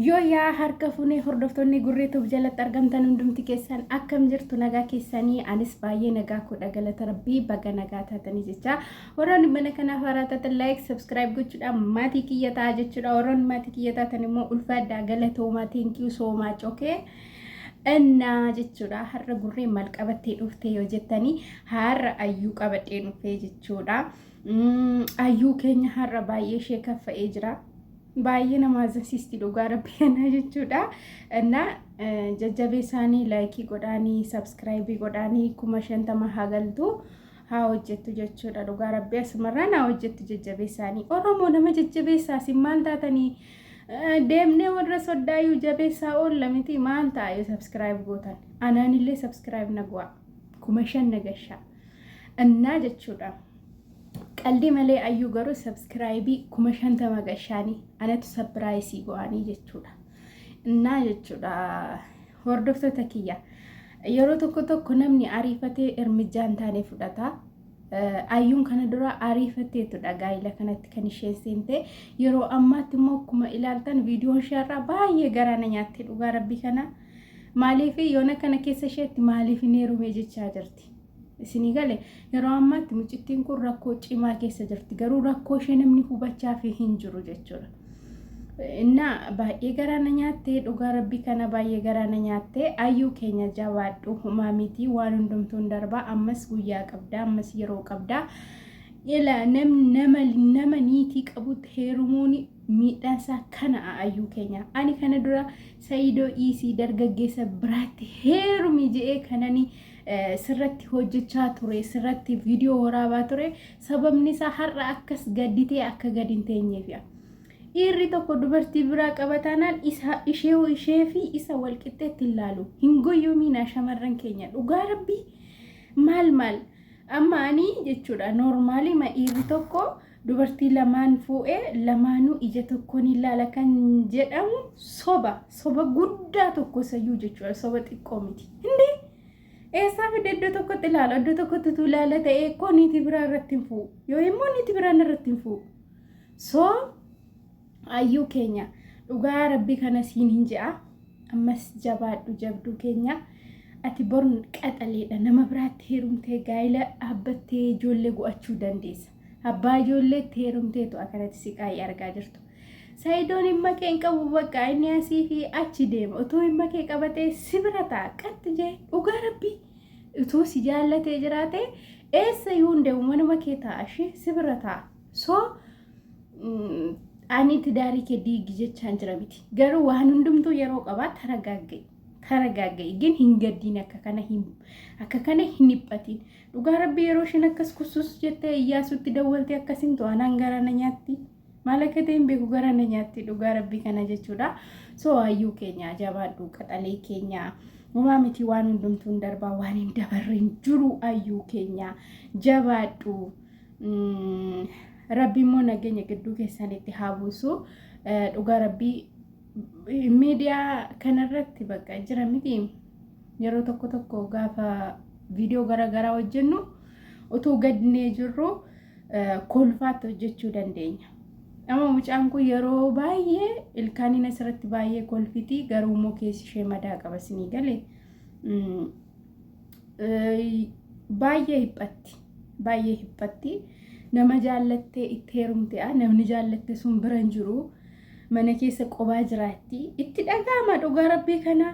yoo yaa harka funee hordoftoonni gurree tuuf jalatti argamtan hundumti keessan akkam jirtu nagaa keessanii anis baay'ee nagaa koodha galata rabbii baga nagaa taatanii jecha warroonni mana kanaaf haaraa taatan laayik sabskiraayib gochuudhaan maatii kiyya ta'a jechuudha warroonni maatii kiyya taatan immoo ulfaadhaa galatoomaa teenkiyuu soomaa cokee Innaa jechuudha har'a gurree maal qabattee dhuftee yoo jettanii har'a ayyuu qabadhee dhuftee jechuudha. Ayyuu keenya har'a baay'ee ishee kaffa'ee jira. Baay'ee nama azansistii dhugaa rabbi kanaa jechuudha. Innaa jajjabee isaanii laayikii godhaanii sabskiraayibii godhaanii kuma shantama haa galtu. haa hojjettu jechuudha dhugaa rabbi asumarraa naa hojjettu jajjabeessaanii oromoo nama jajjabeessaa isin maal taatanii Deemnee warra soddaayyuu jabeessaa oolla miti maal ta'a yoo subscribe gootan anaanillee subscribe na go'a kuma shan na gashaa annaa jechuudha qaldii malee ayyuu garuu subscribe kuma shantama gashaanii anatu sapiraayisii go'anii jechuudha innaa jechuudha hordoftoota kiyya yeroo tokko tokko namni ariifatee ermijjaan taane fudhata. Ayyuun kana dura ariifatteettudha gaa'ila kanatti kan isheen seente yeroo ammaatti immoo akkuma ilaaltan viidiyoon isheerraa baay'ee garaa na nyaatte dhugaa rabbii kana maaliif yoona kana keessa isheetti maaliif hin heerumee jechaa jirti. Isinii gale yeroo ammaatti mucittiin kun rakkoo cimaa keessa jirti garuu rakkoo ishee namni hubachaa fi hin jiru jechuudha. እና baay'ee garaa na nyaattee dhugaa rabbii kana baay'ee garaa na nyaattee ayyuu keenya jabaadhu humaa mitii waan hundumtuun darbaa ammas guyyaa qabdaa ammas yeroo qabdaa ila nam nama nama niitii qabutti heerumuun miidhaan isaa kana ayyuu keenya ani kana dura sayidoo iisii dargaggeessa biraatti heerumi je'ee kanani sirratti hojjechaa ture sirratti viidiyoo waraabaa ture Sababni isaa har'a akkas gadditee akka gad hin teenyeefia. Dhiirri tokko dubartii biraa qaba taanaan isa ishee ishee fi isa wal qixxeetti hin laalu. Hin goyyoomiinaa shamarran keenya dhugaa rabbii maal maal amma ani jechuudha noormaalii ma dhiirri tokko dubartii lamaan fuudhee lamaanuu ija tokkoon hin laala kan jedhamu soba soba guddaa tokko sayyuu jechuudha soba xiqqoo miti. Hindee Eessaa fidde iddoo tokkotti ilaala iddoo tokkotti utuu ilaala ta'ee koo niitii biraa irratti hin fu'u yoo immoo niitii biraan irratti hin fu'u so ayyuu keenya dhugaa rabbii kana siin hin je'a ammas jabaadhu jabduu keenya ati born qaxaleedha nama biraatti heerumtee gaa'ila dhaabbattee ijoollee go'achuu dandeessa. Abbaa ijoolleetti heerumteetu akkanatti siqaayii argaa jirtu. Sayidoon dhimma kee hin qabu bakka inni asii fi achi deema. Utuu dhimma kee qabatee si bira ta'a qaxxi jee dhugaa rabbii utuu si jaallatee jiraate eessa iyyuu hin deemu manuma kee ta'a ishee si bira ta'a. So ani tidaarii kee diigi jechaan jira miti. Garuu waan hundumtuu yeroo qabaa taragaagga'i. Taragaagga'i gin hin gaddiin akka kana hin akka kana hin dhiphatiin. Dhugaa rabbi yeroo isheen akkas kussus jettee iyyaasuutti dawwalte akkasin to'anaan gara na nyaatti. Maal akka ta'e hin beeku gara na nyaatti dhugaa rabbii kana jechuudha. So hayyuu keenya jabaadhu qaxalee keenya. Homaa miti waan hundumtuu hin darbaa waan hin dabarre hin jiru hayyuu keenya jabaadhu. Rabbi immoo nageenya gidduu keessanitti haa buusu. Dhugaa rabbii miidiyaa kanarratti bakka jira miti. Yeroo tokko tokko gaafa viidiyoo garaagaraa hojjennu utuu gadnee jirru kolfaatti hojjechuu dandeenya. Amma mucaan kun yeroo baay'ee ilkaaniin asirratti baay'ee kolfiti garuu immoo keessi ishee madaa qaba sinii gale baay'ee hiphatti baay'ee hiphatti nama jaallattee itti heerumte namni jaallatte sun bira hin jiru mana keessa qobaa jiraatti itti dhaga'ama dhugaa rabbii kanaa.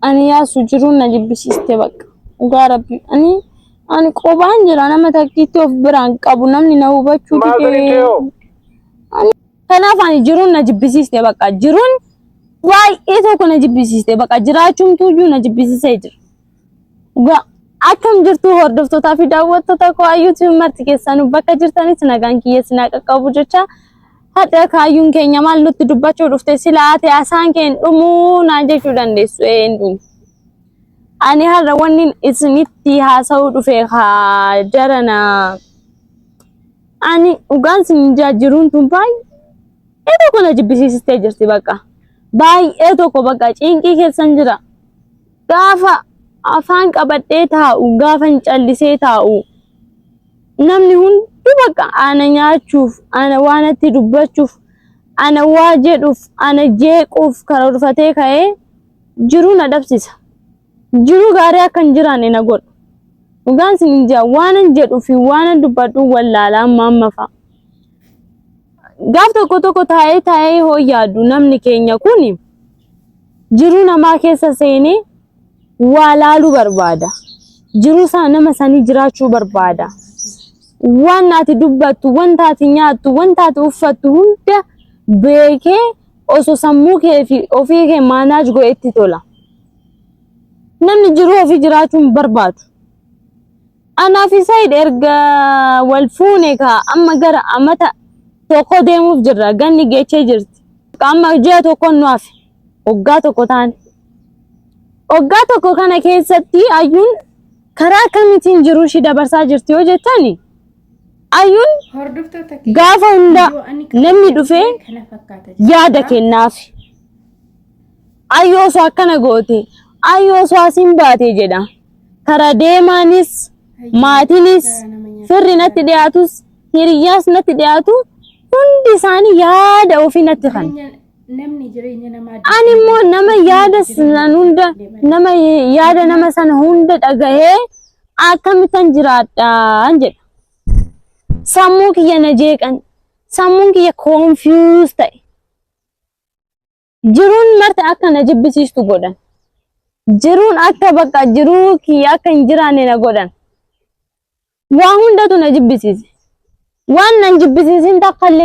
Ani yaasu jiruun na jibbisiiste bakka. Dhugaa rabbi. Ani ani qobaan jira nama takkiitti of biraan qabu namni na hubachuu Maazariin didee. kee hoo? Ani- Kanaaf ani jiruun na jibbisiiste bakka. Jiruun baay'ee tokko na jibbisiiste bakka. Jiraachuumtuu iyyuu na jibbisiisee jira. Dhugaa akkam jirtu hordoftootaa fi daawwattoota koo ayyuutiin marti keessanuu bakka jirtanitti nagaan kiyya sinaa qaqqabu jecha Hadha kaayyuun keenya maal nutti dubbachuu dhufte sila ate asaan kee hin dhumuu naa jechuu dandeessu ee hin dhumu. Ani har'a wanni isinitti haasa'uu dhufe haa jarana. Ani dhugaan sin jaajiruun tun baay'ee tokko na jibbisiisistee jirti bakka. Baay'ee tokko bakka ciinqii keessan jira. Gaafa afaan qabadhee taa'u gaafa hin callisee taa'u. Namni hunduu bakka ana nyaachuuf, ana waanatti dubbachuuf, ana waa jedhuuf, ana jeequuf karoorfatee ka'ee jiruu na dhabsisa. Jiruu gaarii akka hin jiraanne na godhu. Dhugaan sin hin jaa waanan jedhuu fi waanan dubbadhu wallaalaa maamma fa'a. Gaaf tokko tokko taa'ee taa'ee hoo yaadu namni keenya kun jiruu namaa keessa seenee waa laaluu barbaada. Jiruu isaa nama sanii jiraachuu barbaada. Waan ati dubbattu, wanta ati nyaattu, wanta ati uffattu hunda beekee osoo sammuu kee fi ofii kee maanaaj godhetti tola. Namni jiruu ofii jiraachuu hin barbaadu. Anaa fi Said erga wal fuune kaa amma gara amata tokko deemuuf jirra. Ganni geechee jirti. Amma ji'a tokko nu hafe. Waggaa tokko taane. Waggaa tokko kana keessatti ayyuun karaa akkamitiin jiruu ishii dabarsaa jirti yoo jettan ayyuun gaafa hunda namni dhufee yaada kennaaf. Ayyoo osoo akkana goote, ayyoo osoo asiin baate jedha. Karaa deemaanis, maatiinis, firri natti dhiyaatus, hiriyyaas natti dhiyaatu hundi isaanii yaada ofii natti kan. Ani immoo nama yaada san hunda nama yaada nama sana hunda dhagahee akkamitan jiraadhaan jedha. Sammuu kiyya na jeeqan, sammuun kiyya koonfiyuus ta'e. Jiruun marti akka na jibbisiistu godhan. Jiruun akka bakka jiruu kiyya akka hin jiraanne na godhan. Waa hundatu na jibbisiise. Waan nan jibbisiisin takka illee